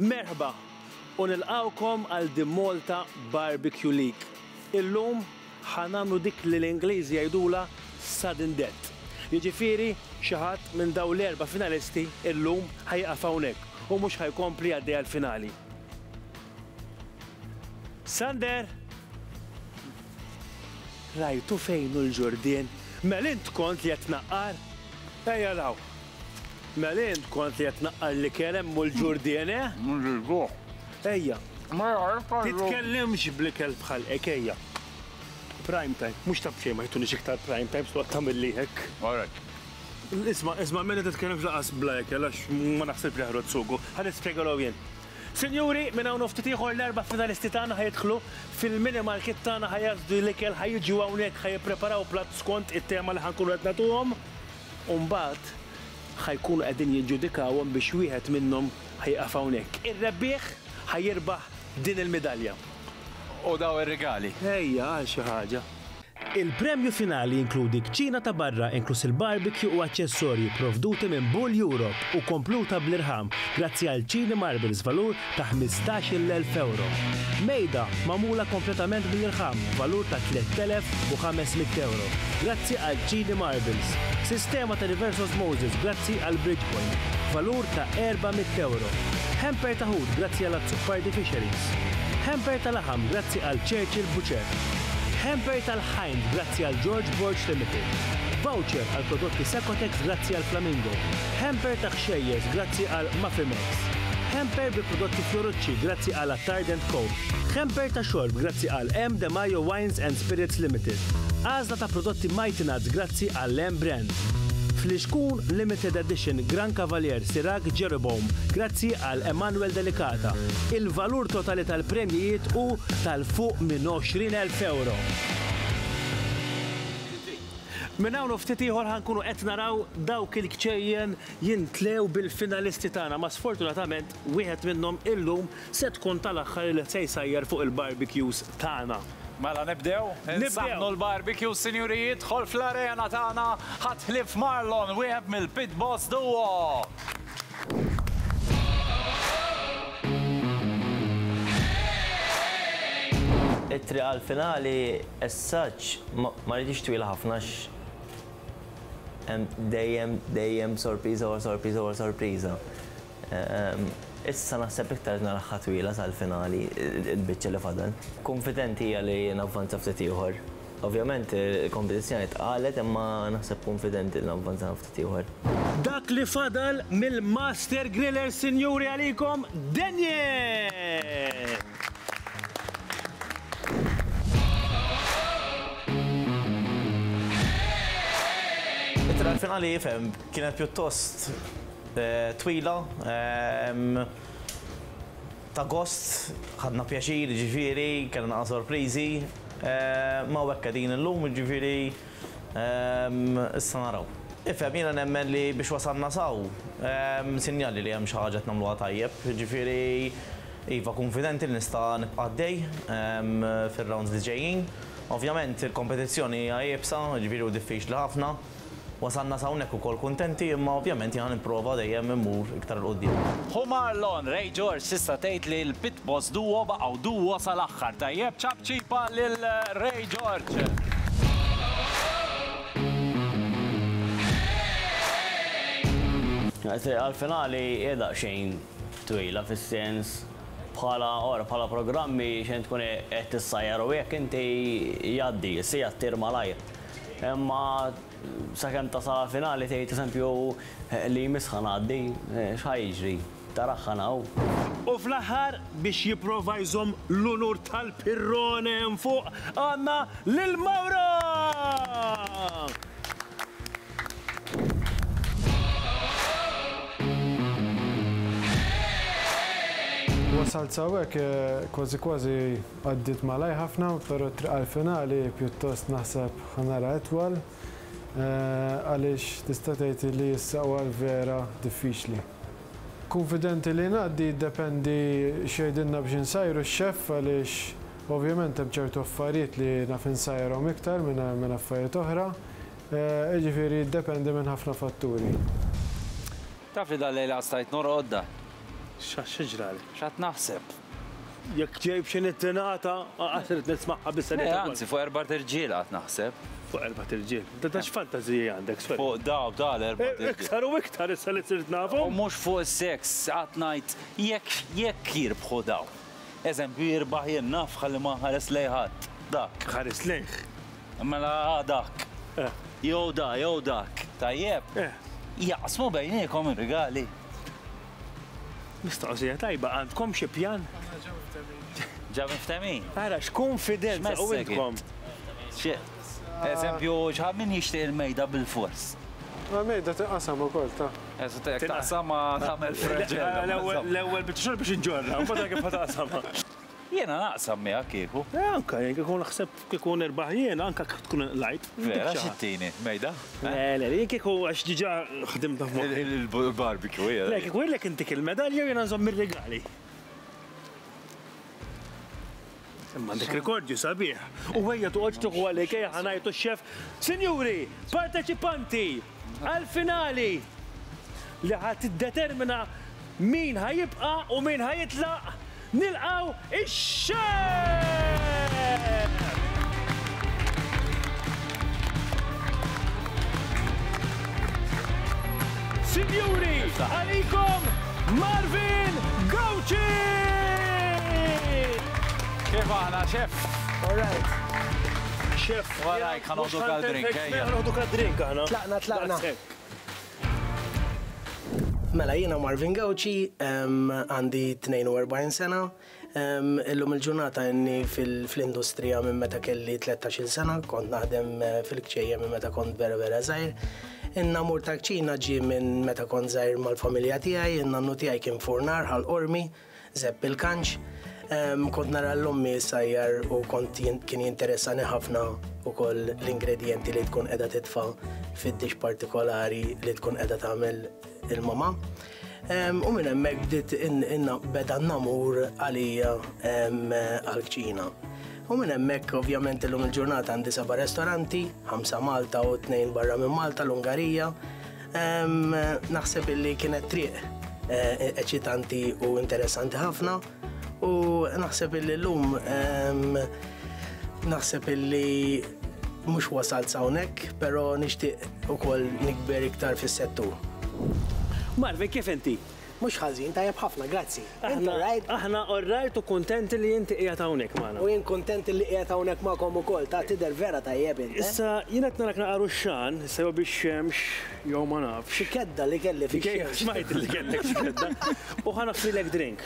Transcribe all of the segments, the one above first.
Merħba u nilqgħukom għal The Malta Barbecue League. Illum ħa nagħmlu dik li l-Ingliżi jgħidulha sudden death. Jiġifieri xi ħadd minn dawn l-erba' finalisti illum ħa jieqaf hawnhekk u mhux ħa jkompli għaddej għall-finali. Sander! Rajtu fejn hu l-ġurdien? Mel int kont li qed tnaqqar? Ejja 'l hawn. Mela int kont qed tnaqqar l-ikel hemm u l-ġur dien, eh? Nżiduh. Ejja. Mela hekk għallu. Titkellimx bl-ikel bħal hekk, ejja. Prime time. Mhux ta' b'xejn ma jtunix iktar prime time x'waqt tagħmilli hekk. Għalhekk. Isma', isma' Mela titkellimx lanqas bla ikel għax ma naħsibx li ħarodd sugu. Ħa nispjegalhom jien. Sinjuri, minn hawn u ftit ieħor l-erba' finalisti tagħna ħa jidħlu fil-mini market tagħna ħa jazżdu l-ikel, ħa jiġu hawnhekk ħa jippreparaw platt skont it-tema li ħa nkunu qed nagħtuhom. u mbagħad ħa jkunu qegħdin jiġġudikawhom biex wieħed minnhom ħa jieqaf hawnhekk. Ir-rebbieħ ħa jirbaħ din il-midalja u dawn ir-rigali. Ejja, għal xi ħaġa. Il-premju finali jinkludi kċina ta' barra inkluż il-barbecue u aċċessorji pprovduti minn Bull Europe u kompluta bl-irħam grazzi għal Chini Marbles valur ta' ħmistax-il elf ewro. Mejda magħmula kompletament mill-irħam b'valur ta' tlett elef u ħames mitt ewro grazzi għal Chini Marbles. Sistema ta' reverse osmosis grazzi għal Bridgepoint b'valur ta' erba' mitt ewro. Hamper ta' ħut grazzi għal Azzopardi Fisheries. Hamper ta' laħam grazzi għal Churchill Butcher. Hamper tal-ħajnt grazzi għal George Borg Limited. Voucher għal prodotti Secotex grazzi għal Flamingo. Hamper ta' ħxejjeż grazzi għal Mafime. Hamper bi prodotti Fiorucci grazzi għal Attardent Co. Hamper ta' xorb grazzi għal M. De Majo Wines and Spirits Limited. Għażla ta' prodotti Mighty Nuts grazzi għall-M Brand. Flixkun Limited Edition Gran Cavalier Sirac Jeroboam grazzi għal Emanuel Delicata. Il-valur totali tal-premjijiet hu tal fuq minn 20,000 ewro. Minn hawn u ftit ieħor ħa nkunu qed naraw dawk il-kċejjen jintlew bil-finalisti tagħna ma sfortunatament wieħed minnhom illum se tkun tal-aħħar li se jsajjar fuq il-barbecues tagħna. Mela nibdew? Insaħħnu l-barbecues sinjuri jidħol fl-arena tagħna ħadd ħlief Marlon wieħed mill-Pit Boss Duo. It-triq għall-finali as such ma ridhiex twila ħafna għax Hemm dejjem, dejjem sorpriża wara sorpriża wara sorpriża. Issa naħseb iktar naraha twila sal-finali, il-biċċa li fadal. Kunfidenti hija li navvanza ftit ieħor. Ovvjament il-kompetizzjoni tqalet imma naħseb kunfidenti li navvanza ftit ieħor. Dak li fadal mill-Master Griller sinjuri għalikom Daniel! It-triq għall-finali kienet pjuttost twila, ta' gost, ħadna pjaċir, jiġifieri, kellna sorpriżi. Imma hawnhekk qegħdin illum, jiġifieri Ehm, issa naraw. Ifhem, jiena nemmen li biex wasalna s'hawn, hemm sinjali li hemm xi ħaġa qed nagħmluha tajjeb. Jiġifieri, iva, kunfidenti li nista' nibqa' għaddej fir-rounds li ġejjin. Ovvjament, il-kompetizzjoni hija iebsa, jiġifieri hu diffiċli ħafna. Wasalna s'hawnhekk ukoll kuntenti, imma ovvjament jiena nipprova dejjem immur iktar 'il quddiem. Hu Marlon Ray George tista' tgħid li l. Boss Duo baqgħu Duo sal-aħħar tajjeb ċapċipa lil Ray George. It-triq għall-finali hija daqsxejn twila fis-sens bħala ora bħala programmi xejn tkun qed issajjar u hekk inti jgħaddi, is-siegħa ttir malajr. Imma sakemm tasal għall-finali tgħid eżempju li jmiss ħa ngħaddi, x'ħa jiġri? taraħħan hawn. U fl-aħħar, biex jipprova jżomm l-unur tal-pirrone hemm fuq, għandna lil Mauro! Wasalt s'hawnhekk, kważi kważi għaddiet malajr ħafna, però t-triq għall-finali pjuttost naħseb ħa nara itwal, għaliex tista' tgħid li issa huwa l-vera diffiċli. Kunfidenti li ngħaddi jiddependi x'jgħidilna biex insajru x-xeff għaliex ovvjament hemm ċertu affarijiet li naf insajrhom iktar minn affarijiet oħra, jiġifieri jiddependi minn ħafna fatturi. Taf li dal-lejl għad stajt norqod, Dan. X'għad xi ġrali? X'għad naħseb? Jekk tgħid xi nittinata, aqas irid nismagħha biss. Le, anzi, fuq erba' irġiel qatt naħseb. Fuq erba' irġiel. Ta' x'fantażiji għandek, sorry. Fuq daw ta' l-erba' irġiel. Iktar u iktar issa li sirt nafhom. U mhux fuq is-seks, qatt ngħid jekk jekk jirbħu daw. Eżempju, jirbaħ jien naf ħalli ma nħares lejn ħadd. Dak. Ħares lejh. Mela dak. Jew da, jew dak. Tajjeb? Jaqsmu bejniethom ir-rigali. Mistoqsija tajba, għandkom xi pjan? Aħna ġa mftemmin. Ġa mftemmin? Ara x'kunfidenza u intkom. Eżempju, ġħa min jixtieq il-mejda bil-fors? Il-mejda tinqasam ukoll ta. Jekk taqsamha tagħmel freġel. L-ewwel biċċa xogħol biex inġorrha, mbagħad kif ħa taqsamha. Jiena naqsam miegħek kieku. Eh anke jien kieku naħseb kieku nirbaħ jien anke kieku tkun inqlajt. Vera xittini, mejda? Le, le, jien kieku għax diġà ħdimtha f'moħħi. Il-barbecue hija. Le, kieku jgħidlek intik il-medalja u jiena nżomm ir-rigali. Imma għandek rekordju sabiħ. U ejja toqgħodx tieħu għalik, ejja ħa ngħidu x-xef, Sinjuri, parteċipanti! għall-finali li ħa tiddetermina min ħa jibqa' u min ħa jitlaq, nilqgħu ix-Xerr! Sinjuri, għalikom Marvin Gauci! Kif aħna, Chef? All right. Chef. Warajk ħanoħdu kal-drink, ejja. Ħanoħdu kal-drink aħna. Tlaqna, tlaqna. Mela, jiena Marvin Gauci, għandi 42 sena, illum il-ġurnata inni fil-industrija minn meta kelli 13 sena, kont naħdem eh, fil-kċejja minn meta kont vera vera zaħir. Inna mur ta' kċina ġi minn meta kont zaħir mal-familja tijaj, inna nu tijaj kien furnar għal-ormi, Żepp il-kanċ, kont nara l-ommi sajjar u kont kien jinteressani ħafna ukoll l-ingredjenti li tkun qiegħda titfa' fid-dix partikolari li tkun qiegħda tagħmel il-mama. U minn hemmhekk bdiet beda n-namur għalija għall-kċina. U minn hemmhekk ovvjament illum il-ġurnata għandi seba' restoranti, ħamsa Malta u tnejn barra minn Malta l-Ungarija, Naħseb illi kienet triq eh, eċitanti u interessanti ħafna u naħseb illi l-lum naħseb illi mux wasalt sawnek, pero nishtiq u koll nikber iktar fis-settur. Marvin, kif inti? Mhux ħażin, tajjeb ħafna, grazzi. Int all right? Aħna all right u kuntenti li inti qiegħed hawnhekk magħna. U jien kuntent li qiegħed hawnhekk magħkom ukoll, ta' tidher vera tajjeb int. Issa jien qed narak naqar ux-xan, issa jew bix-xemx jew ma nafx. Xi kedda li kelli fix-xemx. Smajt li kellek xi kedda. U ħa nagħfrilek drink.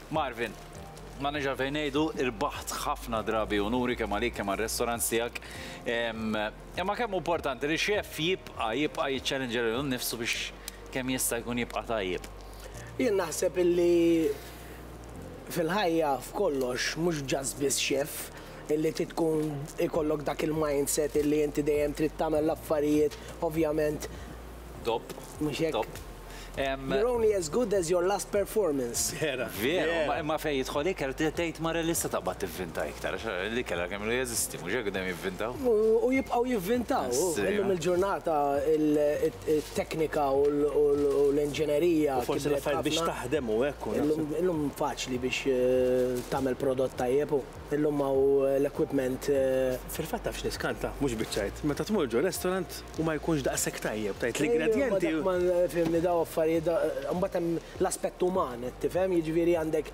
Marvin, ma nix għalfejn ngħidu, irbaħt ħafna drabi unuri kemm għalik kemm għar-restaurants tiegħek. Imma kemm importanti li xef jibqa' jibqa' jiċċallenġa lilu nnifsu biex kemm jista' jkun jibqa' tajjeb. Jien naħseb illi fil-ħajja f'kollox mhux just biss xef illi trid tkun ikollok dak il-mindset illi inti dejjem trid tagħmel l-affarijiet ovvjament Top. Mhux hekk? Top. You're only as good as your last performance. Vera. Vera, ma fej jidħol ikel tgħid mara li se taqbad tivvinta iktar, li kellha kemm jeżisti, mhux hekk dejjem jivvintaw. U jibqgħu jivvintaw. Illum il-ġurnata il-teknika u l-inġinerija. Forsi l-affarijiet biex taħdem u hekk. Illum faċli biex eh, tagħmel prodott tajjeb u illum hawn l-equipment. Eh, Fil-fatt tafx niskanta, mhux biċċajt. Meta tmur ġo restaurant, u ma jkunx daqshekk tajjeb, tgħid l-ingredjenti. Ejja, imma dak ma fhimni daw affarijiet, imbagħad hemm l-aspett uman qed tifhem, jiġifieri għandek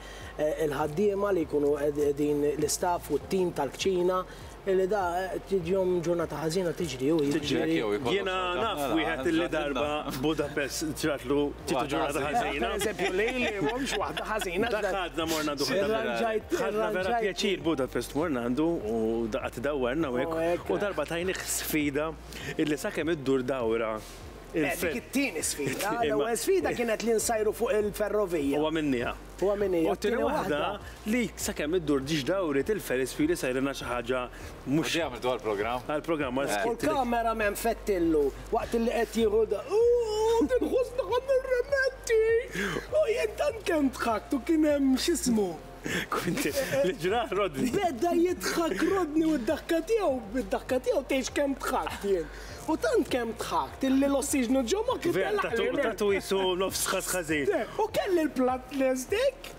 il-ħaddiema li jkunu qegħdin l-istaff u t-tim tal-kċina li da tiġihom ġurnata ħażina tiġri hu jiġri. Jiena naf wieħed li darba f'Budapest ġratlu tieħdu ġurnata ħażina. Pereżempju lili mhux waħda ħażina. Dak għadna morna duħ. Ħadna vera pjaċir Budapest morna għandu u qatt dawwarna u hekk u darba tajnih Sfida illi sakemm iddur dawra il-ferrovija. Le, dik it-tieni sfida. L-ewwel sfida kienet li nsajru fuq il-ferrovija. Huwa minnija. Huwa minnija. U t-tieni waħda li sakemm iddur ġiex dawriet il-ferispiri sejrinha xi ħaġa mhux. U di għamiltu għall-programm? Għall-programm, għal skit. U l-cameraman fettillu waqt illi qed jieħu da. Għandi l-ħoss li ħa nirrimetti! U jien tant kemm dħakt u kien hemm x'ismu. Li ġrah Rodney? Beda jidħak Rodney u d-daħka tiegħu, bid-daħka tiegħu tgħidx kemm dħakt jien. U tant kemm dħakt illi l-ossiġnu ġo moħħi telaqli. Vera, tatu jisu nofs ħaż ħażin. U kelli l-platt lest hekk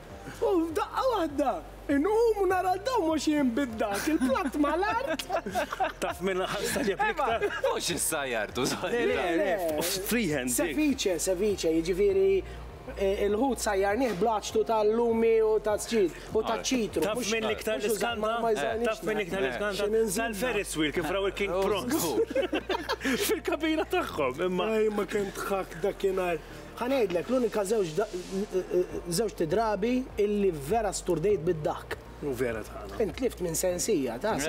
u f'daqqa waħda inqum u nara dawn mhux jien bid-daħk, il-platt mal-art. Taf minn ħassa li applika. Mhux issajjartu, sajjartu. Freehand. Sevice, sevice, jiġifieri Il-ħut sajjarnieh bl-għaċtu tal-lumi u taż-żġid u taċ-ċitru. Taf minn l-iktar li skanta? Taf minn l-iktar li skanta? Tal-Ferris wheel kif raw il-King Bronx. Fil-kabina tagħhom imma. Ej ma kemm dħakt dakinhar. Ħa ngħidlek, l-unika żewġt drabi illi vera sturdejt bid-daħk. U vera tagħna. Int tlift minn sensija, taf.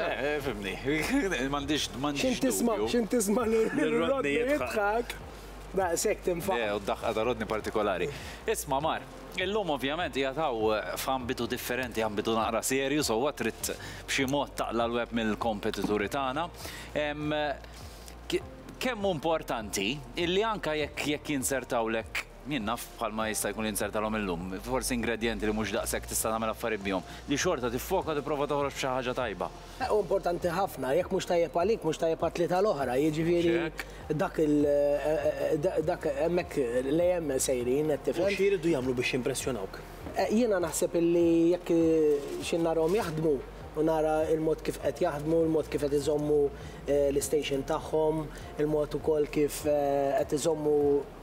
Fimni. M'għandix dubju. X'int tisma' lil Rodney jidħak. Daqshekk tinfaq. Le, u d-daħqa ta' rodni partikolari. Isma' mar, illum ovvjament qiegħed hawn f'ambitu differenti, ambitu naqra serju, sewwa trid b'xi mod taqla' l-web mill-kompetituri tagħna. Ehm, kemm hu importanti illi anke jekk jekk jinzertawlek jien naf bħalma jista' jkun jinzertalhom illum, forsi ingredjenti li mhux daqshekk tista' tagħmel affarijiet bihom, li xorta tiffoka tipprova toħroġ b'xi ħaġa tajba. Hu importanti ħafna, jekk mhux tajjeb għalik, mhux tajjeb għat-tlieta l-oħra, jiġifieri dak il dak hemmhekk l-ejem sejrin qed tifhem. U x'jridu jagħmlu biex jimpressjonawk? Jiena naħseb illi jekk xi narahom jaħdmu u nara l-mod kif qed jaħdmu, l-mod kif qed iżommu l-istation tagħhom, il-mod ukoll kif qed iżommu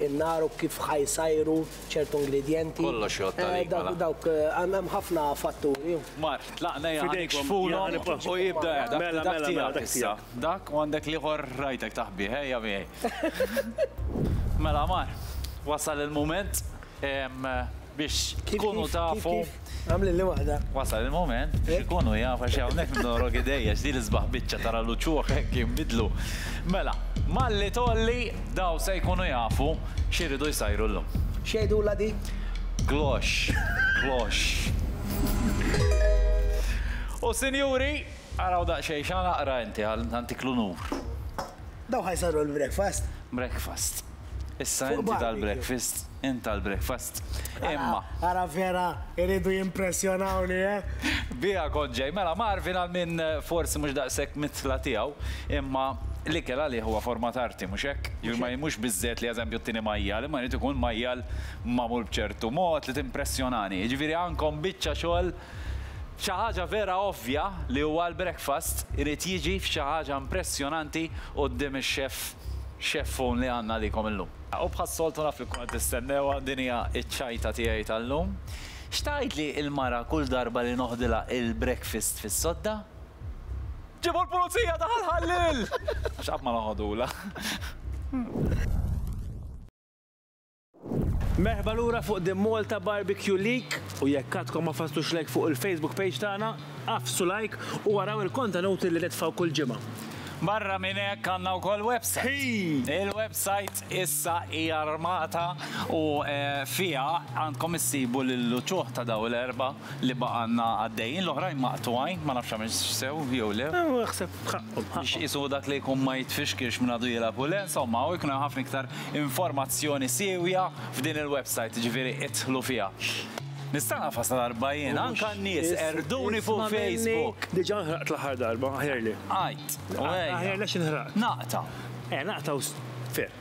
in-nar u kif ħa jsajru ċertu ingredjenti. Kollox jgħodd għalik mela. Dawk, hemm ħafna fatturi. Mar, tlaqna ja ħanik xfulhom u jibda ja dak tiegħek. Dak tiegħek issa. Dak u għandek l-ieħor rajtek taħbih, ejja miegħi. Mela mar, wasal il-mument. biex tkunu tafu. Kif, kif, kif? Għamlilli waħda. Wasal il-mument biex ikunu jafu għax hawnhekk nidorok idejja għax din l-isbaħ biċċa tara l-uċuħ hekk jinbidlu. Mela, malli tgħolli dawn se jkunu jafu x'iridu jsajru llum. X'jgħidulha di? Glox, glox. U sinjuri, araw daqsxejn x'għan aqra inti ħalli nagħtik l-unur. Dawn ħa jsarru l-breakfast. Breakfast. Issa inti tal-breakfast, int tal-breakfast. Imma. Ara vera iridu jimpressjonawni, eh? Biha kont ġej. Mela, Marvin għal min forsi mhux daqshekk mit-tla tiegħu, imma l-ikel għalih huwa forma ta' arti, mhux hekk? Jiġifieri mhux biżżejjed li eżempju tieni majjal, imma jrid ikun majjal magħmul b'ċertu mod li timpressjonani. Jiġifieri għandkom biċċa xogħol Xi ħaġa vera ovvja li huwa l-breakfast irid jiġi f'xi ħaġa impressjonanti quddiem ix-xef xeffun li għandna għalikom illum. U bħas-soltu naf li tkun qed tistennewha, din hija ċ-ċajta tiegħi tal-lum. X'tgħidli l-mara kull darba li noħdilha l-breakfast fis-sodda? Ġibu l-pulizija ta' Ħal Ħalliel! Għax qatt ma noħodhulha. Merħba lura fuq The Malta Barbecue League u jekk għadkom ma fasslux like fuq il-Facebook page tagħna, agħfsu like u araw il-kontenuti li nitfgħu kull ġimgħa. Barra minn hekk għandna wkoll website. Il-website issa hija armata u fiha għandkom issibu lill-uċuħ ta' dawn l-erbgħa li baqgħna għaddejjin, l-oħrajn maqtugħin, ma nafx għamiltx sew jew le. U naħseb ħaqqhom, ħaqqhom. Biex qisu dak li jkun ma jitfixkilx minn għadu jilgħab u le, insomma, u jkun hemm ħafna iktar informazzjoni siewja f'din il-website, jiġifieri idħlu fiha. Nista' nagħfas ta' darba jien, anke n-nies qerduni fuq Facebook. Diġà nħraqt l-aħħar darba, aħjar li. Għidt, u ejja. Aħjar li għax inħraqt. Naqta'. Eja, naqta' u ferm.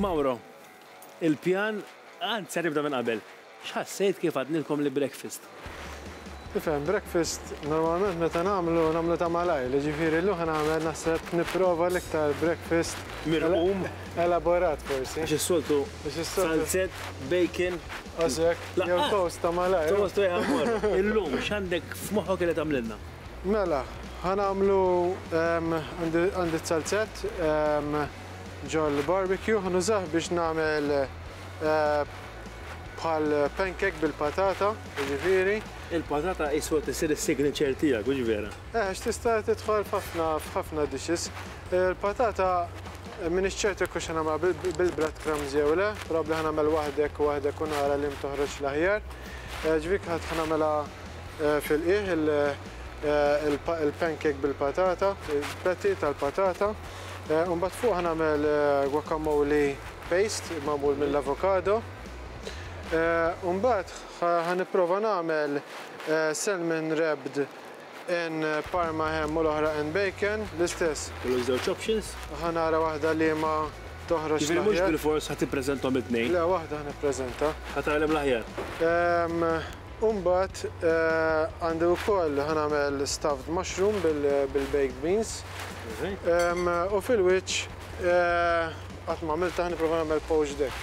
Mauro, il-pjan għad ser jibda minn qabel. X'ħassejt kif għadnilkom li breakfast? Tifhem, breakfast normalment meta nagħmlu, nagħmlu ta' malajr, jiġifieri llum ħa nagħmel naħseb nipprova l-iktar breakfast. Mirqum? Elaborat forsi. Għax is-soltu salzett, bacon. Għax hekk, jew toast ta' malajr. Toast u jħammar. Illum x'għandek f'moħħok li tagħmlilna? Mela, ħa nagħmlu għandi t-salzett ġol-barbecue, ħa nużah biex nagħmel bħal pancake bil-patata, jiġifieri. Il-patata iswa tisir is-signature tiegħek, hux vera? Eh, għax tista' tidħol f'ħafna f'ħafna dishes. Il-patata m'iniex ċert jekk hux ħa nagħmilha bil-breadcrumbs jew le, probabbli ħa nagħmel waħdek u waħdek u nara liema toħroġ l-aħjar. Ġifieri ħa nagħmilha Fil-qiegħ, il-pancake bil-patata, il-patty tal-patata. Imbagħad fuqha nagħmel guacamole paste magħmul mill-avokado. Imbagħad ħa nipprova nagħmel salmon wrapped in parma ham u l-oħra in bacon, l-istess. Kollox żewġ options? Ħa nara waħda liema toħroġ l-aħjar. Ġifieri mhux bilfors ħa tippreżentahom it-tnejn? Le, waħda ħa nippreżenta. Ħa tgħallem l-aħjar? U mbagħad għandi wkoll ħa nagħmel stuffed mushroom bil-baked beans. U fil-wiċċ qatt ma għamiltha ħa nipprova nagħmel poached egg.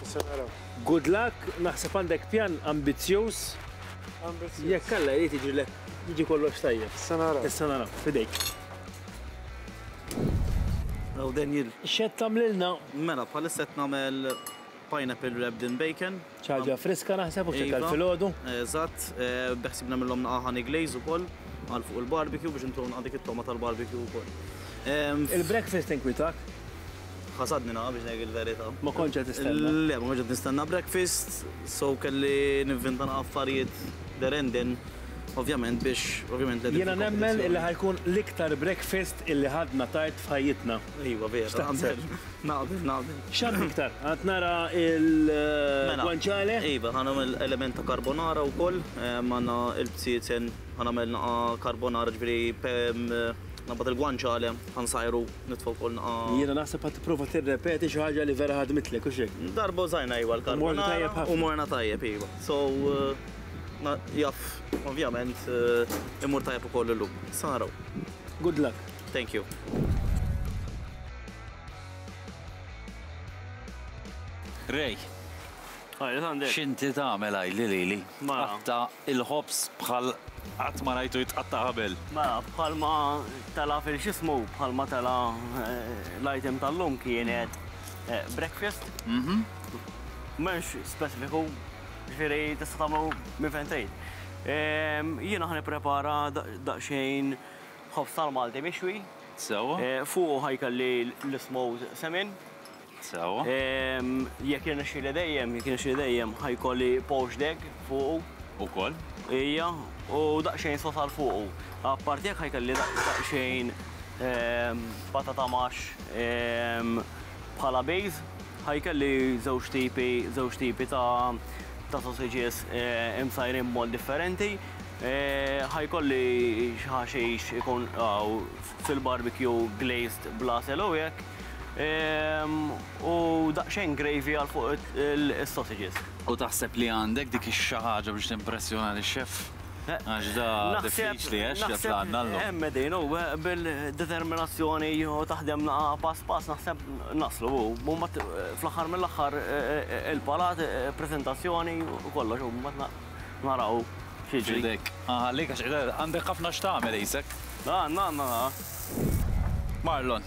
Issa naraw. Good luck, naħseb għandek pjan ambizzjuż. Ambizzjuż. Jekk Alla jrid jiġrilek jiġi kollox tajjeb. Issa naraw. Issa naraw, f'idejk. Hawn Daniel. X'qed tagħmlilna? Mela bħalissa qed nagħmel pineapple wrapped in bacon. Xi ħaġa friska naħseb u x'ekel filgħodu. Iva, eżatt. Beħsiebna nagħmilhom naqgħa honey glaze ukoll għal fuq il-barbecue biex intonqha dik it-togħma tal-barbecue ukoll. Il-breakfast inkwitak? Ħasadni naqgħa biex ngħidlek il-verità. Ma kontx qed tistenna? Le, ma kontx qed nistenna breakfast, so kelli nivvinta naqgħa affarijiet there and then, ovvjament biex ovvjament qegħdin fil-kompetizzjoni. Jiena nemmen illi ħa jkun l-iktar breakfast illi ħadna tard f'ħajjitna. Iva, vera. X'taħseb? Naqbel, naqbel. X'għadd iktar? Għadd nara l-guanciale? Mela, iva, ħa nagħmel element ta' carbonara wkoll. Għandna l-bsiezen, ħa nagħmel naqa' carbonara, ġifieri ngħabbad il-guanciale, ħa nsajru, nitfa' wkoll naqa'. Jiena naħseb qed tipprova tirrepeti xi ħaġa li vera ħadmitlek, hux hekk? Darba użajna, iva, l-carbonara u morna tajjeb, iva. So, jaf, ovvjament, imur tajjeb ukoll illum. Issa naraw. Good luck. Thank you. Rej. Għajli għandek. Xinti tagħmel għajli lili. Ma. Qatta il-ħobs bħal qatt ma rajtu jitqatta qabel. Ma bħal ma tala fil-xismu, bħal ma tala eh, l-item tal-lum kienet eh, breakfast. Mhm. Menx specifiku, ġifieri tista' tagħmlu minn fejn trid. Ehm, jiena ħan prepara daqsxejn ħobs tal-Malti mixwi. Sewwa. Fuqu ħa jkolli l-ismowt semin. Sewwa. Jekk jirnexxieli dejjem, jekk jirnexxieli dejjem, ħa jkolli poached egg fuqu. Ukoll. Ija, u daqsxejn sos għal fuqu. Apparti hekk ħa jkolli daqsxejn patata mash bħala base. Ħa jkolli żewġ tipi, żewġ tipi ta' sausages imsajrin b'mod differenti. Ħa jkolli xi ħaxix ikun għaw fil-barbecue glazed bl-għasel u hekk. Ehm, U daqsxejn gravy għal fuq it- il- is-sausages. U taħseb li għandek dik ix-xi ħaġa biex timpressjona lix-xef? Għax da diffiċli, eh, x'jaf li għandna llum. Hemm qegħdin u bil-determinazzjoni u taħdem naqra pass pass naħseb naslu u mbagħad fl-aħħar mill-aħħar il-palat, preżentazzjoni u kollox u mbagħad na. Naraw x'jiġri. F'idejk. Nħallik għax qed għandek ħafna x'tagħmel qisek. Għandna, għandna, ha. Marlon.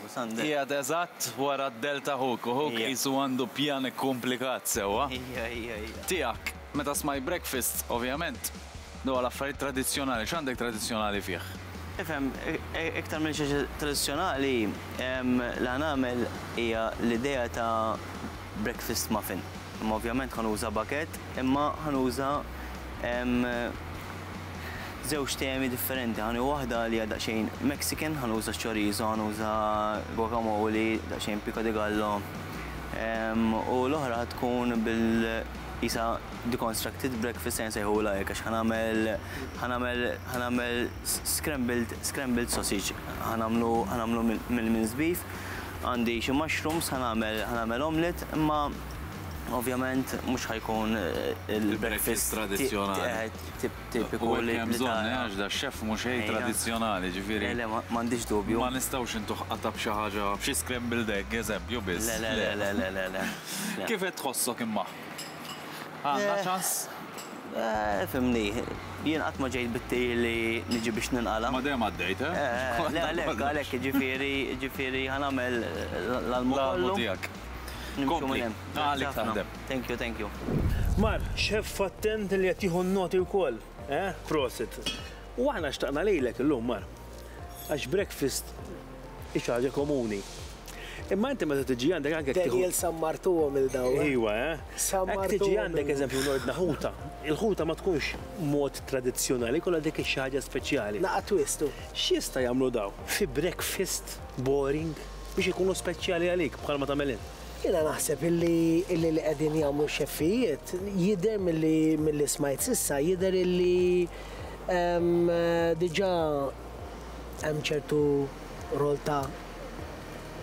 U Sander. Qiegħed eżatt wara d-dell ta' ħuk u ħuk qisu għandu pjan ikkumplikat sewwa. Ija, ija, ija. Tiegħek. Meta smajt breakfast, ovvjament, dwar l-affarijiet tradizzjonali, x'għandek tradizzjonali fih? Ifhem, iktar minn xi tradizzjonali, li ħa nagħmel hija l-idea ta' breakfast muffin. Imma ovvjament ħa nuża baguette, imma ħa nuża żewġ temi differenti. Ħa nieħu waħda li hija daqsxejn Mexican, ħa nuża chorizo, ħa nuża guacamole, daqsxejn pico de gallo, u l-oħra ħa tkun bil qisha deconstructed breakfast se nsejħulha hekk għax ħa nagħmel ħa nagħmel ħa nagħmel scrambled scrambled sausage. Ħa nagħmlu ħa nagħmlu mill-minced beef Għandi xi mushrooms ħa nagħmel ħa nagħmel omelette imma ovvjament mhux ħa jkun il-breakfast tradizzjonali. Tipiku li hemm bżonn għax da chef mhux ħej tradizzjonali ġifieri. Le le m'għandix dubju. Ma nistgħux intuh qatgħa b'xi ħaġa b'xi scrambled egg eżempju biss. Le le le le le le. Kif qed tħossok imma? Għandha ċans? Eh, fimni, jien qatt ma ġejt bit-tir li niġi biex ninqala. Ma dejjem għaddejt, eh? Eh, le għalhekk, għalhekk, ġifieri, ġifieri ħanamel l-almu kollu. tiegħek. Nimxu minn hemm. Għalik taħdem. Thank you, thank you. Mar, xeff attent li qed jieħu n-noti wkoll, eh? Prosit. U aħna xtaqna lilek illum, Mar. Għax breakfast. Hi xi ħaġa komuni. Imma inti meta tiġi għandek anke tieħu. Daniel sammartuhom il daw. Eh? Iwa, eh? Sammartuhom. Tiġi għandek eżempju nordna ħuta. Il-ħuta ma tkunx mod tradizzjonali, kollha dik xi ħaġa speċjali. Naqa' twistu. X'jista' jagħmlu daw? Fi breakfast boring biex ikunu speċjali għalik bħalma tagħmelin. Jiena naħseb illi illi li qegħdin jagħmlu xeffijiet jidher milli milli smajt sissa jidher illi ehm, diġà hemm ċertu rol ta'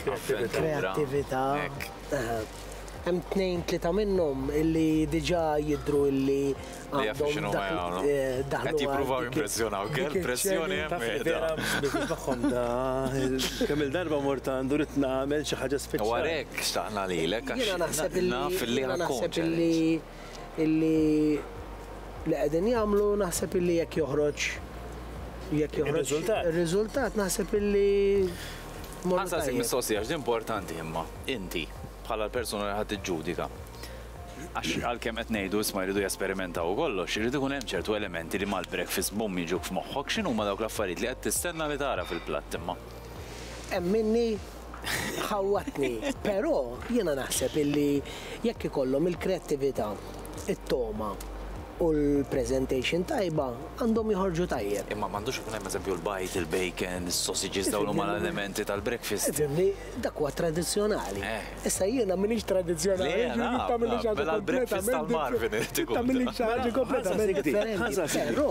kreattività. Hemm tnejn tlieta minnhom illi diġà jidru illi għandhom daħlu. Qed jippruvaw impressjonaw, kell pressjoni hemm. Kemm il-darba mort għandu rid nagħmel xi ħaġa speċjali. Warek xtaqna lilek għax naf li ħadd tkun ċerti. illi li qegħdin jagħmlu naħseb illi jekk joħroġ jekk joħroġ ir-riżultat naħseb illi Għasa si mistoqsija, x'di importanti imma, inti, bħala l-persuna li ħadd ġudika Għax għalkemm qed ngħidu isma' jridu jesperimentaw u kollox, irid ikun hemm ċertu elementi li mal-breakfast bum jiġuk f'moħħok x'inhuma dawk l-affarijiet li qed tistenna li tara fil-platt imma. Hemm minni ħawwatni, però jiena naħseb illi jekk ikollhom il-kreattività, it-togħma u l-presentation tajba għandhom joħorġu tajjeb. Imma m'għandux ikun hemm eżempju l-bajd, il-bacon, is-sausages dawn huma l-elementi tal-breakfast. Ifhimni, dak huwa tradizzjonali. Issa jiena m'iniex tradizzjonali, jiġifieri tagħmilli xi ħaġa kompletament differenti. Però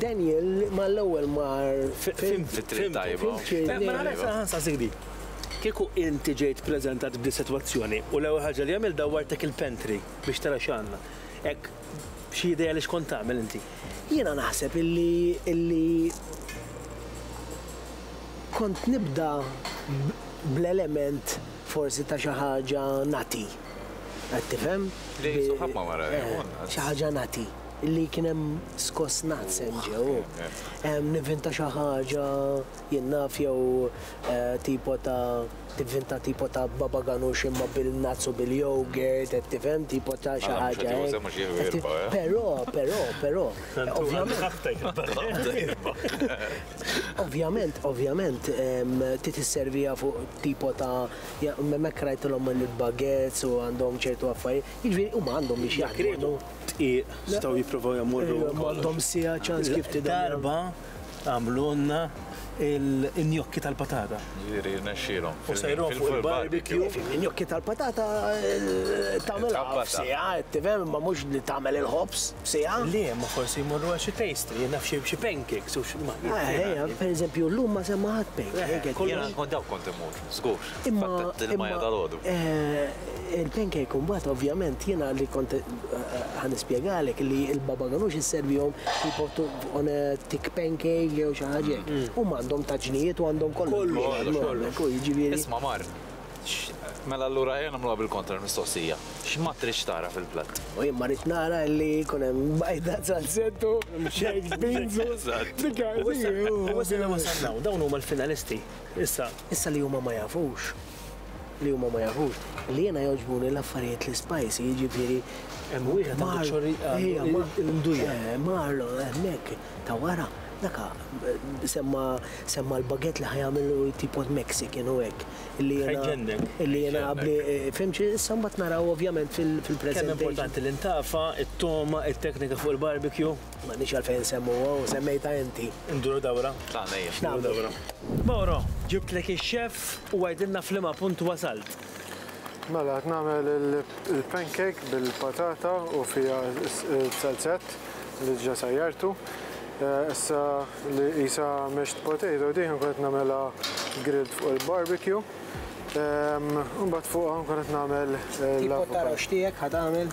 Daniel mal-ewwel mar Fhimt fit-triq tajba. Mela ara saħansah sidi. Kieku inti ġejt ppreżentat b'di sitwazzjoni u l-ewwel ħaġa li għamilt dawwartek il-pantry biex tara x'għandna. Hekk xi idea li xkont tagħmel inti? Jiena naħseb illi illi kont nibda bl-element forsi ta' xi ħaġa nagħti. Qed tifhem? Li suħab ma' mara. Xi ħaġa nagħti. li kien hemm skoss naqsen ġew. Nivvinta xi ħaġa jien naf jew eh, tipo ta' tivvinta tipo ta' baba ganux imma bil-nuts u bil-yogurt, qed tifhem tipo ta' xi mela, ħaġa. Eh? Però, però, però. Ovvjament, ovvjament, ti tisservija fuq tipo ta' memmek rajtilhom il-baguettes u għandhom ċertu affarijiet. Jiġri, huma għandhom biex jaħdmu. dqiq staw jipprovaw jamurru. Ejwa, m'għandhom siegħa ċans kif tidher. Darba għamlulna il-njokki tal-patata. Ġieri rnexxielhom. U sejrhom fuq il-barbecue. Njokki tal-patata tagħmel għaf siegħa, tifhem, imma mhux li tagħmel il-ħobż siegħa. Le, imma forsi jmorru għal xi pastry, naf xi pancakes u xi. Ejja, pereżempju llum ma semma ħadd pancake. Kont dawk kont immur. Żgur, f'attent il-Maya dalgħodu. Il-pancake imbagħad ovvjament jiena li kont ħa nispjegalek li l-baba ganux isservihom jpoġġu on a thick pancake jew xi ħaġa hekk. Huma għandhom taġnijiet u għandhom kollox. Kollox, kollox. U jiġifieri. Isma' mar, mela allura ejja nagħmluha bil-kontra l-mistoqsija. X'ma tridx tara fil-platt? U jien ma rrid nara li jkun hemm bajda, salsett u baked beans u. Eżatt. Dik hi. U issa li wasalna hawn, dawn huma l-finalisti. Issa. Issa li huma ma jafux, li huma ma jafux, li jiena jogħġbuni l-affarijiet li spicy, jiġifieri. Hemm wieħed għandu ċorri għandu l-imdujja. Eh, Marlon hemmhekk ta' wara, daka semma semma l-baguette li ħajamel u tipot Mexican u hekk. Illi jiena. Ħajġennek. Illi jiena qabli fim xi issa mbagħad naraw ovvjament fil-preżentation. Kemm importanti l-intafa, it-togħma, it-teknika fuq il-barbecue. M'għandniex għalfejn insemmuha u semmejtha inti. Induru dawra. Tagħna hi. X'nagħmlu? Induru dawra. Mauro, ġibtlek ix-chef u għidilna f'liema punt wasalt. Mela qed nagħmel il-pancake bil-patata u fiha s-salzett li diġà sajjartu. Issa li qisha mashed potato di nkun qed nagħmilha grilled fuq il-barbecue. Imbagħad fuqha nkun qed nagħmel l-avokado. Tip ta' roast tiegħek ħa tagħmel?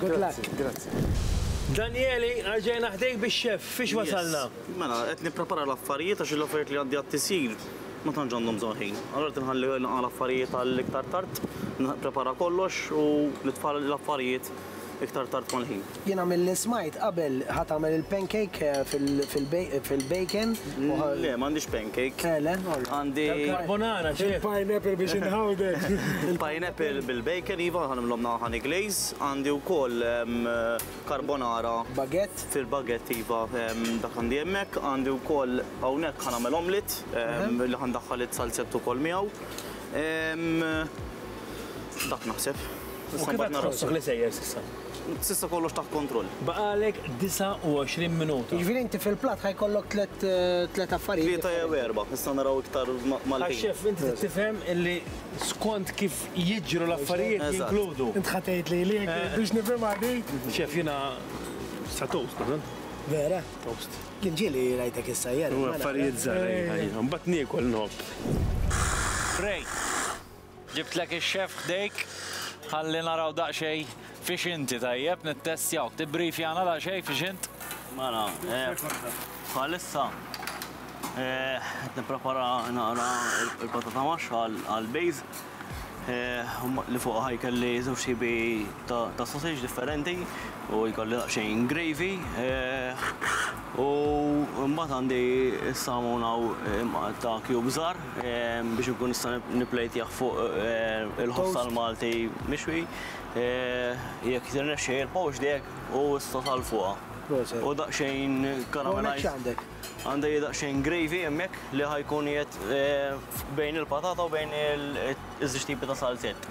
Good luck. Grazzi. Daniele, rġajna ħdejk biex xef, fiex wasalna? Mela, qed nipprepara l-affarijiet għax l-affarijiet li għandi għat-tisjir ma tantx għandhom żaħin. Allora qed nħalli l-affarijiet għall-iktar tard, nipprepara kollox u nitfal l-affarijiet iktar tard mal-ħin. Jiena mill-li smajt qabel ħat tagħmel il-pancake eh, fil-bacon. Le, m'għandix pancake. Felen? Għandi. Carbonara, xi. Pineapple biex inħawdek. Pineapple bil-bacon, iva, ħanimlhom naħa glaze. Għandi wkoll carbonara. Baguette? Fil-baguette, iva, dak għandi hemmhekk. Għandi wkoll hawnhekk ħanagħmel omlit, li ħandaħħal it-salzett ukoll miegħu. Dak naħseb. U kif qed tħossok li sejjer s'issa? S'issa kollox taħt kontroll. Baqgħalek 29 minuta. Jiġifieri inti fil-platt ħa jkollok tliet tliet affarijiet. Tlieta jew erba', nistgħu naraw iktar mal-ħin. Għax xef, inti trid tifhem illi skont kif jiġru l-affarijiet jinkludu. Int ħa tgħid li li jekk biex nifhimha di. Xef, jiena sa toast nagħmel. Vera? Toast. Kien ġie li rajtek issajjar. Affarijiet żgħar, ejja, ejja. Mbagħad niekol nħobb. Pray. Ġibtlek ix-chef ħdejk ħalli naraw daqsxejn fiex inti, tajjeb? Nittestjawk. Tibbrifjana daqsxejn fiex int? Mela, bħalissa qed nipprepara naqra l-patata maxxa għall-bejż li fuqha ħajkelli żewġ tipi ta' sausage differenti u jkolli daqsxejn gravy. U mbagħad għandi s-salmon hawn imqatta' cubes żgħar. biex inkun nista' nipplejtjah fuq il-ħoss tal-Malti mixwi. Jekk tirnexxi il-poach dek u issa tal fuqha. U daqsxejn karamellajz. Għandek daqsxejn gravy hemmhekk li ħajkun jgħid bejn il-patata u bejn iż-żewġ tipi ta' salzett.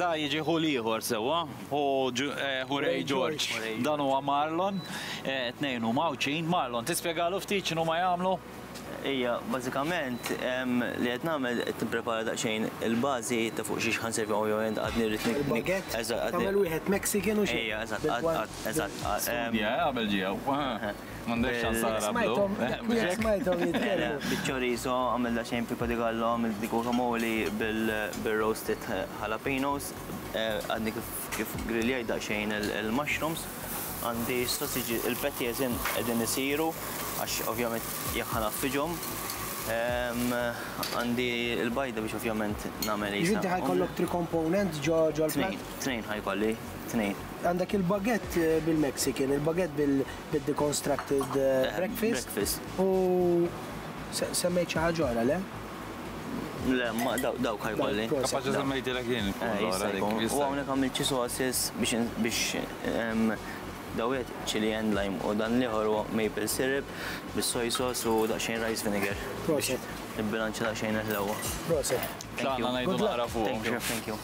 Da jiġi ħu l-ieħor sewwa, ħu ħu Ray George. Dan huwa Marlon, tnejn huma Għawdxin. Marlon, tispjegalu ftit x'inhuma jagħmlu? Ejja, bażikament li qed nagħmel qed nipprepara daqsxejn il-bażi ta' fuq xiex ħa nservi hawn jew hemm għadni rrid ni. Il-baguette? Eżatt, għadni. Tagħmel wieħed Mexican u xi. Ejja, eżatt, għad, għad, eżatt. Studja, eh, qabel ġie hawn. M'għandekx ċans tara blu. Smajthom jitkellmu. Biċ-chorizo, għamilna xejn pico de gallo, għamilt dik guacamole bir-roasted jalapenos, għadni kif griljajt daqsxejn il-mushrooms. Għandi s-sosiġi, il-petti eżin qegħdin isiru għax ovvjament jekk ħa naffiġhom. Għandi l-bajda biex ovvjament nagħmel. Inti ħa jkollok three components ġo l-plat? Tnejn. Tnejn High Valley, tnejn. Għandek il-baguette bil-Mexican, il-baguette bil-deconstructed breakfast. U semmejt xi ħaġa oħra, le? Le, dawk High Valley. Kapaċi semmejtilek jien. U hawnhekk għamilt xi sauces biex daw wieħed chili and lime u dan l-ieħor huwa maple syrup bis-soy sauce u daqsxejn rice vinegar. Proset. Nibbilanċja daqsxejn il-ħlewwa. Proset. Tlaqna ngħidu naqra fuq. Thank you.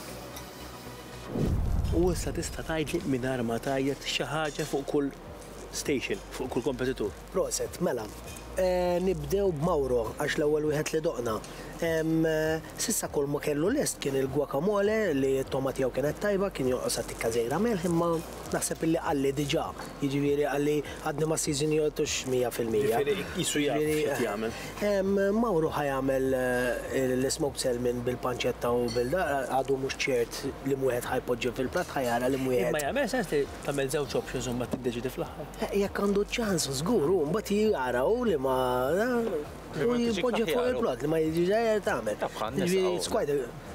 U issa tista' tgħidli mingħajr ma tgħajjat xi ħaġa fuq kull station, fuq kull kompetitur? Proset, mela, nibdew b'Mauro għax l-ewwel wieħed li doqna. S'issa kull ma kellu lest kien il-guacamole li t-togħma tiegħu kienet tajba, kien jonqosha tikka żgħira melħ imma Naħseb illi qalli diġà, jiġifieri qalli għadni ma seasonjtux mija fil-mija. Jiġifieri qisu jaf x'qed jagħmel. Mawru ħa jagħmel l-smoked salmon bil-panċetta u bil da, għadu mhux ċert liem wieħed ħa jpoġġi fil-platt ħa jara liem wieħed. Imma jagħmel sens li tagħmel żewġ options u mbagħad tiddeċiedi fl-aħħar. Jekk għandu ċ-ċans żgur hu mbagħad jara hu liema da u jpoġġi fuq il-platt li ma jiġix tagħmel. Jiġifieri it's quite a.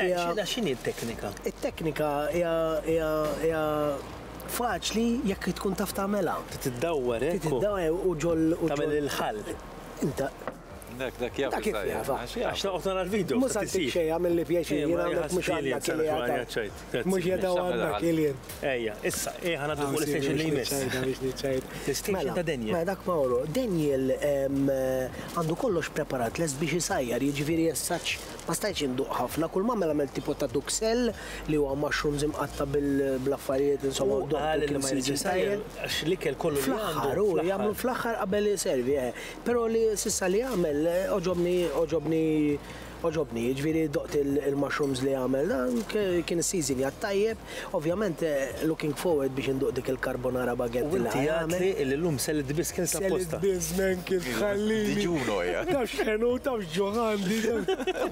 Xina xini t-teknika? It-teknika hija faċli jekk tkun taf tagħmela. Tiddawwer, eh? Tiddawwer u ġol u ġol il-ħall. Inta. Dak dak jaf. Dak jaf. Għax naqgħod nara l-video. Mhux għad xejn għamil li pjaċi jien għandek mhux għandek li għandek. Mhux jadaw għandek ilien. Ejja, issa, ejja ħana fuq l-istation li jmiss. L-istation ta' Daniel. Ma dak Mauro, Daniel għandu kollox preparat les biex isajjar, jiġifieri jessaċ Ma stajtx induq ħafna, kull m'għamel għamel tipo ta' duxell li huwa mushrooms imqatta' bl-affarijiet insomma u qal li ma jridx isajjar għax l-ikel kollu li għandu. Fl-aħħar, jagħmlu fl-aħħar qabel iservi, eh. Però li s'issa li għamel għoġobni għoġobni għoġobni, jiġifieri doqt il-mushrooms li għamel, kien is-season jgħat-tajjeb, Ovvjament looking forward biex induq dik il-carbonara baguette li ħajamel. U inti għadtli illi llum sellitt biskens apposta. Sellitt biżmen kif tħallini. Diġun hija. Taf x'ħenu u taf x'ġuħ għandi.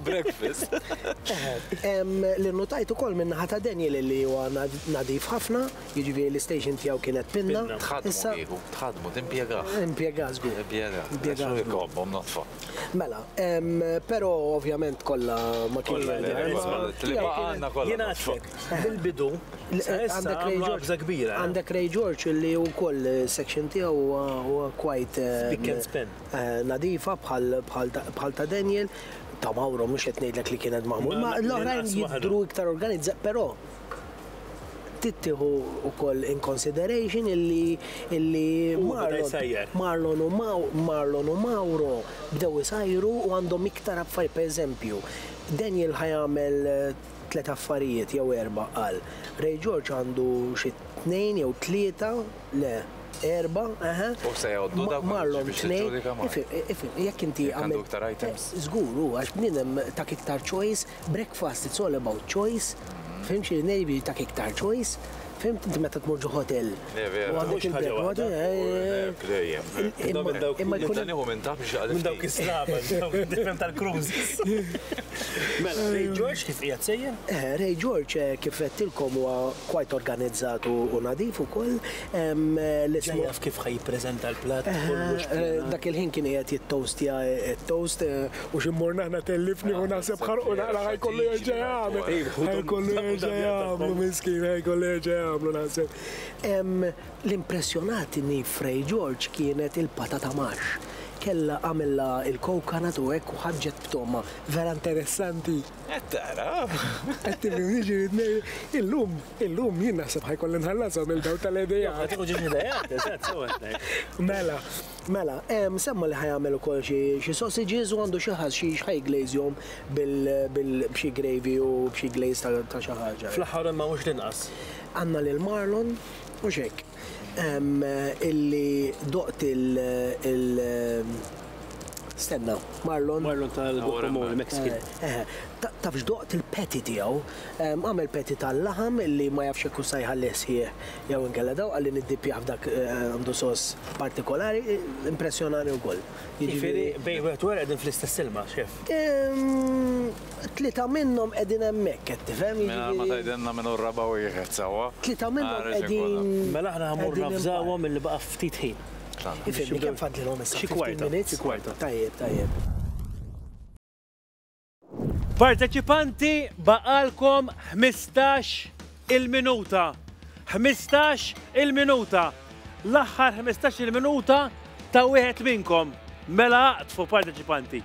Breakfast. Li nnutajt ukoll min-naħa ta' Daniel illi huwa nadif ħafna, jiġifieri li station tiegħu kienet pinna. Pinna. Tħaddmu kieku. Tħaddmu, timpjegah. Impjegah żgur. Impjegah. Impjegah. Għax hu jkobbhom nodfa. Mela, pero ovvjament kollha ma kienx bil-bidu għandek Ray George kbira. Għandek Ray George li wkoll section tiegħu huwa quite eh, eh, nadifa bħal ta' Daniel ta' Mauro mhux qed ngħidlek li kienet magħmul. Ma l-oħrajn jidru iktar organizza, però tittieħu wkoll in consideration illi illi Marlon u Marlon u Mauro bdew isajru u għandhom iktar affarijiet pereżempju Daniel ħajamel eh, tliet affarijiet jew erba' qal. Ray George għandu xi tnejn jew tlieta le erba, eħe. U se jgħoddu dawk Marlon tnejn. Jekk inti għandek iktar items. Żgur eh, hu għax bniedem tak iktar choice Breakfast it's all about choice, fhimt xi ngħid jiġifieri jtak iktar choice, fhimt inti meta tmur ġo hotel u għandek il-breakfast imma jkun Nibda nieħu minn taħt biex jaqleb Minn dawk is-slava, tifhem tal-cruises. Mela, Ray George kif qiegħed sejjer? Ray George kif għedtilkom huwa quite organizzat u nadif ukoll. Ġa jaf kif ħa jippreżenta l-platt kollox. Dak il-ħin kien qiegħed jittoastja t-toast. U xi mmorna aħna tellifni u naħseb ħarqu naqra ħajkollu jerġa' jagħmel. Ħajkollu jerġa' jagħmlu miskin, ħajkollu jerġa' jagħmlu naħseb. L-impressjonatni f'Ray George kienet il-patata marx. Kellha għamilha il-coconut u hekk u ħarġet b'togħma vera interessanti. Qed tara? Qed tifhimni x'irid ngħid? Illum, illum jien naħseb ħajkolli nħallashom il-dawl tal-idejat. Ħa tieħu ġiex idejat, eżatt, sew qed ngħid. Mela, Mela, semma li ħa jagħmel ukoll xi xi sausages u għandu xi ħass xi x'ħa jglaze-jhom bil bil b'xi gravy u b'xi glaze ta' ta' xi ħaġa. Fl-aħħar imma mhux l-inqas. Għandna lil Marlon, mhux hekk, illi doqt il il stenna, Marlon. Marlon tal-Guppo Mall, Mexican. Eħe. Tafx doqt il-patty tiegħu. Għamel patty tal-laħam illi ma jafx jekk hux se jħallih sħiħ Jew inkella dawk qal li niddippjah f'dak għandu sos partikolari, impressjonani wkoll. Jiġifieri bejn wieħed u ieħor qegħdin fl-istess ilma, Chef? Tlieta minnhom qegħdin hemmhekk, qed tifhem, jiġifieri. Mingħajr ma tgħidilna min hu r-raba' wieħed sewwa. Tlieta minnhom qegħdin. Mela aħna ħammur navżawhom illi baqa' ftit ħin. Ifhimni, kemm fadlilhom issa? Xi kwarta. Xi kwarta. Tajjeb, tajjeb. Parteċipanti baqgħalkom ħmistax il-minuta. Ħmistax il-minuta. L-aħħar ħmistax il-minuta ta' wieħed minnkom. Mela aqtfu parteċipanti.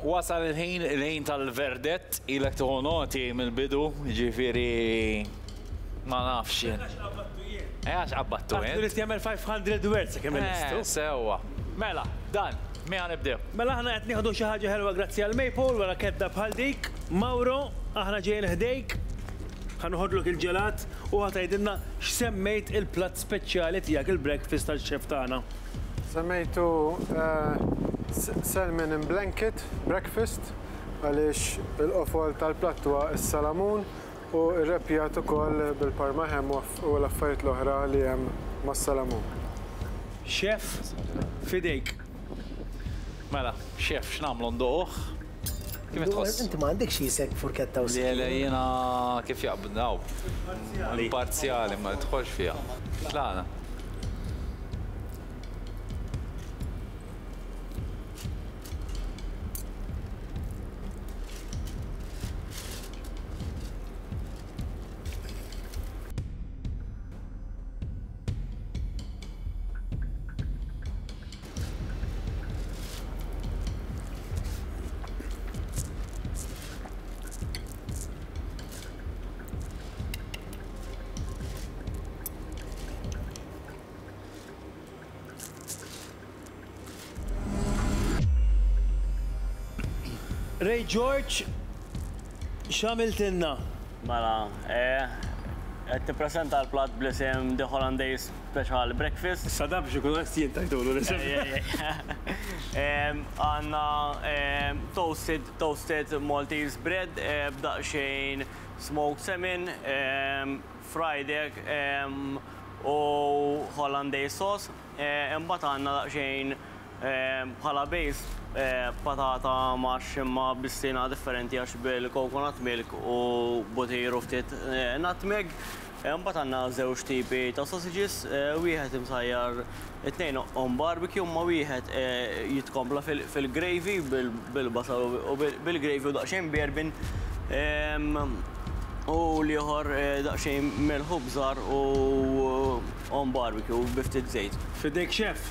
Wasal il-ħin, il-ħin tal-verdett, ilek tieħu noti mill-bidu, jiġifieri ma nafx jien. Għax qabbattu jien. Eh għax qabbattu int. Għad irid jagħmel 500 words sakemm ilestu. Eh, sewwa. Mela, dan, min ħa nibdew? Mela aħna qed nieħdu xi ħaġa ħelwa grazzi għal Maple wara kedda bħal dik. Mauro, aħna ġejjin ħdejk, ħa noħodlok il-ġelat u ħa tgħidilna x'semmejt il-platt speċjali tiegħek il-breakfast għax-chef tagħna. Semmejtu salmon in blanket breakfast għaliex il-qofol tal-platt huwa s-salamun u rreppjat ukoll bil-parma ham u l-affarijiet l-oħra li hemm mas-salamun. Chef, f'idejk. Mela, Chef, x'nagħmlu, ndoqquh? Kif tħoss? Inti ma għandekx jisek furketta u sikin. Le, le, jiena kif jaqbdni hawn. Imparzjali, ma nidħolx fiha. Tlaqna. Ray George, xamiltinna? Mela, eh, qed tippreżenta l-platt bl-isem The Hollandaise speċa għal breakfast. Issa dan biex ikun onest jien tajtulu l-isem. Għandna toasted, toasted Maltese bread b'daqsxejn smoked salmon, fried egg u Hollandaise sauce. Imbagħad għandna daqsxejn bħala base patata mash imma b'stina differenti għax bil-coconut milk u butir u ftit nutmeg. Imbagħad għandna żewġ tipi ta' sausages, wieħed imsajjar it-tnejn on barbecue imma wieħed jitkompla fil-gravy bil-basal u bil-gravy u daqsxejn bjarbin u l-ieħor daqsxejn milħu bżar u on barbecue bi ftit żejt. F'idejk Chef!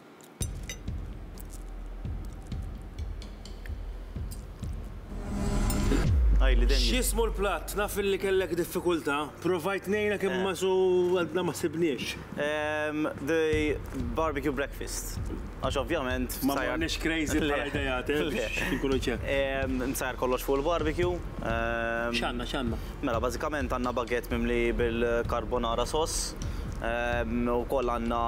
X'jismu l-platt? Naf li kellek diffikultà. Provajt ngħinek imma su għadna ma sibniex. Ehm, the barbecue breakfast. Għax ovvjament. Ma morniex crazy bħala ideat, eh? Le. Inkunu ċepp. Ehm, nsajjar kollox fuq il-barbecue. Ehm. X'għandna, x'għandna? Mela, bażikament għandna baguette mimli bil-carbonara sauce. Ehm, ukoll għandna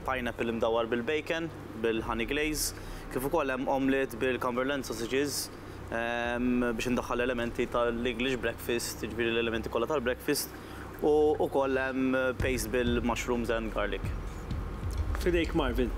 pineapple imdawwar bil-bacon, bil-honey glaze, kif ukoll hemm omelette bil-Cumberland sausages biex indaħħal elementi tal-English breakfast, jiġifieri l-elementi kollha tal-breakfast, u ukoll hemm paste bil-mushrooms and garlic. F'idejk Marvin.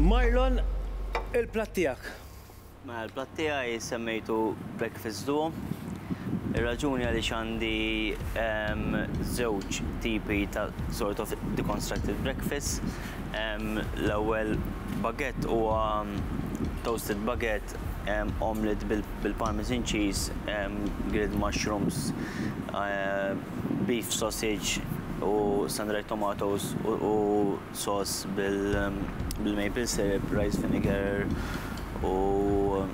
Marlon, il-platt tiegħek. Mela l-platt tiegħi semmejtu Breakfast Duo. Ir-raġuni għaliex għandi żewġ tipi ta' sort of deconstructed breakfast. L-ewwel baguette huwa toasted baguette omelette bil-parmesan cheese, grilled mushrooms, beef sausage u sun-dried tomatoes u Sauce bil-maple syrup, rice vinegar u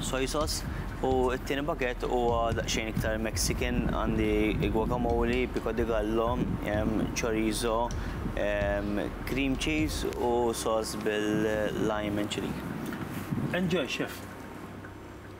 soy sauce. U t-tieni pakkett huwa daqsxejn iktar Mexican, għandi guacamole, pico de gallo, chorizo, cream cheese u sauce bil-lime and chilli. Enjoy, Chef!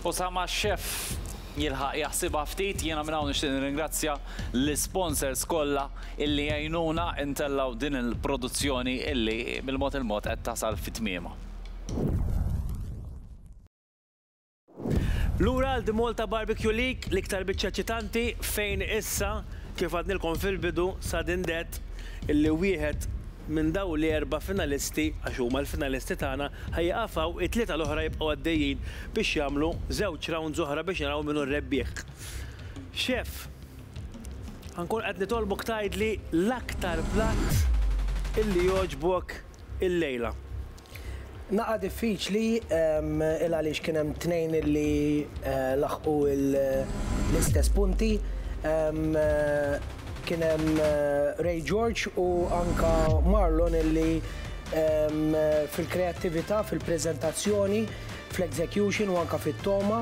Osama Chef jilħaq jaħsibha ftit. Jiena minn hawn nixtieq nirringrazzja l-isponsors kollha illi għinuna ntellgħu din il-produzzjoni illi bil-mod il-mod qed tasal fi tmiemha. Lura għal The Malta Barbecue League, l-iktar biċċa eċitanti, fejn issa, kif għadnilkom fil-bidu, sudden death, illi wieħed minn dawn l-erba' finalisti, għax huma l-finalisti tagħna, ħa jieqaf hawn, it-tlieta l-oħra jibqgħu għaddejjin biex jagħmlu żewġ rounds oħra biex naraw min hu r-rebbieħ. Chef, ħa nkun qed nitolbok tgħidli l-aktar platt illi jogħġbok illejla. Naqa' diffiċli il għaliex kien hemm tnejn li laħqu l-istess punti. Kien hemm Ray George u anke Marlon li fil-kreattività, fil-preżentazzjoni, fl-execution u anke fit-togħma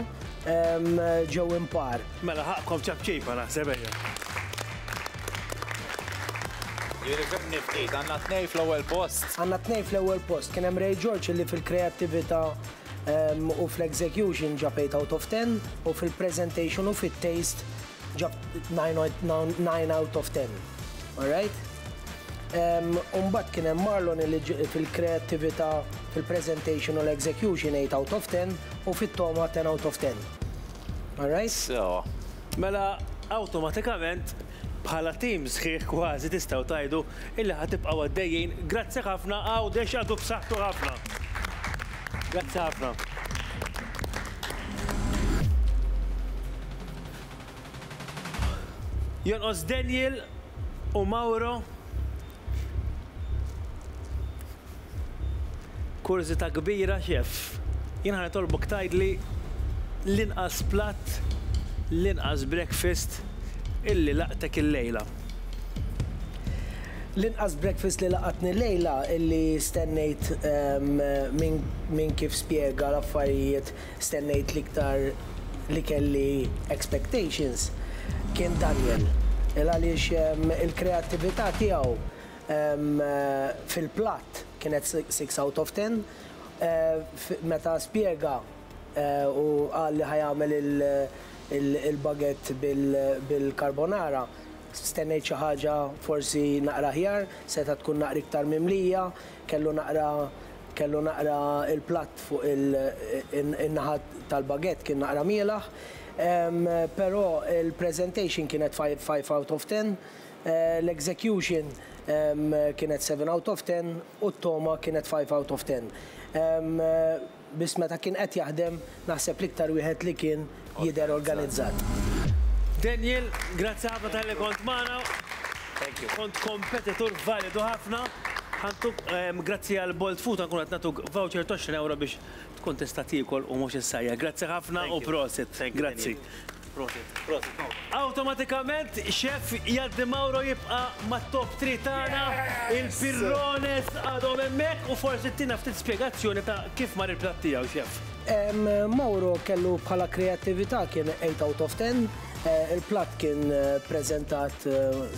ġew impar. Mela ħaqqkom ċapċipa naħseb ejja. Jirrikebni ftit, għandna tnej fl-ewwel post. Għandna tnej fl-ewwel post. Kien hemm Ray George li fil-kreattività ehm, u fl-execution ġab 8 out of 10 u fil-presentation u fit-taste ġab 9 out of 10. Alright? Ehm, Umbat kien hemm Marlon li fil-kreativita, fil-presentation u l-execution 8 out of 10 u fit-toma 10 out of 10. All right? Sewwa. Mela awtomatikament bħala tim sħiħ kważi tistgħu tgħidu illi ħa tibqgħu għaddejjin. Grazzi ħafna Għawdex għadu b'saħħtu ħafna. Grazzi ħafna. Jonqos Daniel u Mauro Kurżità kbira, Chef. Jien ħa nitolbok tgħidli l-inqas platt, l-inqas breakfast illi laqtek illejla. L-inqas breakfast li laqatni llejla illi stennejt minn kif spjega l-affarijiet stennejt l-iktar li kelli expectations kien Daniel. Il għaliex il-kreattività tiegħu Fil-platt kienet six out of ten. Meta spjega u qal li ħa jagħmel il-baguette bil-carbonara, stennejt xi ħaġa forsi naqra aħjar, setgħet tkun naqra iktar mimlija, kellu naqra kellu naqra il-platt fuq in-naħa tal-baguette kien naqra mielaħ. Però il-presentation kienet five out of ten. L-execution kienet seven out of ten u t-togħma kienet five out of ten. Biss meta kien qed jaħdem naħseb l-iktar wieħed li kien jidher organizzat. Daniel, grazzi ħafna talli kont magħna. Thank you. Kont kompetitur validu ħafna. Ħa ntuk, grazzi għall-Bolt Food ħa nkunu qed nagħtuk voucher t'għoxrin ewro biex Tkun tista' tiekol u mhux issajjar. Grazzi ħafna u prosit. Grazzi. Prosit. Prosit Mawro. Awtomatikament Chef jgħaddi Mawro jibqa' mat-top three tagħna. Il-pirrones għadhom hemmhekk u forsi ttina ftit spjegazzjoni ta' kif mar il-platt tiegħu, Chef. Mawro kellu bħala kreattività kien eight out of ten. Il-platt kien preżentat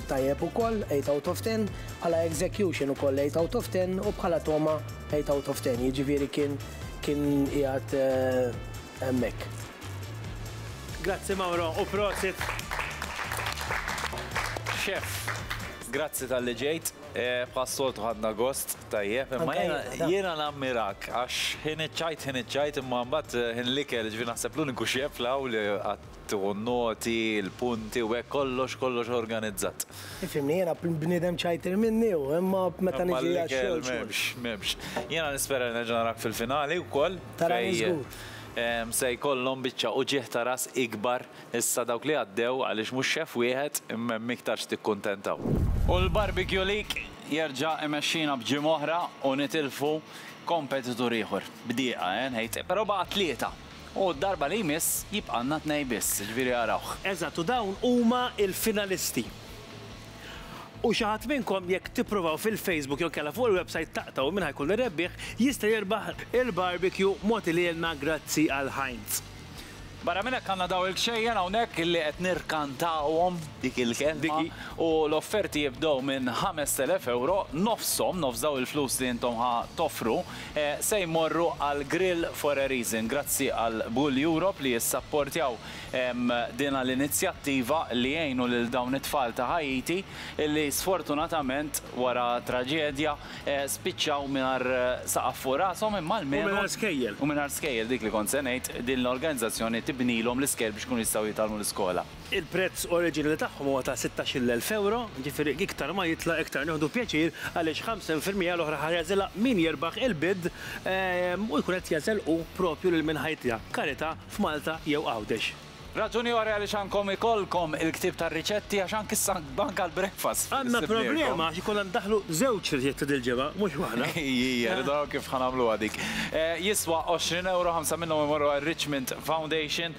tajjeb ukoll, eight out of ten. Bħala execution ukoll eight out of ten u bħala togħma Eight out of ten, jiġifieri kien kien qiegħed hemmhekk. Grazzi Mauro u prosit. Chef, grazzi talli ġejt. Bħas-soltu ħadna gost, tajjeb. Imma jiena nammirak għax ħin iċ-ċajt ħin iċ-ċajt imma mbagħad ħin l-ikel, ġifieri naħseb l-uniku chef li hawn li qatt tieħu n-noti, il-punti u hekk kollox, kollox organizzat. Ifhimni, jiena bniedem ċajtir minni u imma meta niġi għax-xogħol. M'hemmx, m'hemmx. Jiena nispera li nerġa' narak fil-finali wkoll. Tarani żgur. Se jkollhom biċċa uġigħ ta' ras ikbar issa dawk li għaddew għaliex mhux xef wieħed imma hemm iktar x'tikkuntentaw. U l-Barbecue League jerġa' imexxina b'ġimgħa oħra u nitilfu kompetitur ieħor. B'dieqa, eh, nħejt, però baqa' tlieta. U d-darba li jmiss jibqgħalna tnej biss, jiġifieri arawh. Eżatt, u dawn huma l-finalisti. U xi ħadd minnkom jekk tippruvaw fil-Facebook jew inkella fuq il-website taqtgħu min ħa jkun ir-rebbieħ, jista' jirbaħ il-barbecue mogħti lilna grazzi għal Heinz. Barra minn hekk għandna dawn il-kxejjen hawnhekk illi qed nirkantawhom dik il-kelma u l-offerti jibdew minn ħamest elef ewro, nofshom, nofs dawn il-flus li intom ħa toffru, se jmorru għal Grill for a Reason grazzi għal B'Goal Europe li jissapportjaw dina l-inizjattiva li jgħinu lil dawn it-tfal ta' Ħaiti li sfortunatament wara traġedja spiċċaw mingħajr saqaf fuq rashom imma almenu U mingħajr skejjel. U mingħajr skejjel, dik li kont se ngħid, din l-organizzazzjoni tibnilhom l-iskejjel biex ikunu jistgħu jitgħallmu l-iskola. Il-prezz oriġinali tagħhom huwa ta' sittax-il elf ewro, jiġifieri iktar ma jitla' iktar nieħdu pjaċir għaliex ħamsin fil-mija l-oħra ħa jagħżilha min jirbaħ il-bid u jkun qed jagħżel hu proprju lil min ħa jitla', karità, f'Malta jew Għawdex. Raġuni oħra għaliex għandkom ikollkom il-ktieb tar-riċetti għax anki s-sank anke għall-breakfast ssibnielkom. Għandna problema għax ikollna ndaħħlu żewġ riċetti dil-ġimgħa, mhux waħda. Ejjija, rridu naraw kif ħa nagħmluha dik. Jiswa għoxrin ewro, ħamsa minnhom imorru għar-Richmond Foundation.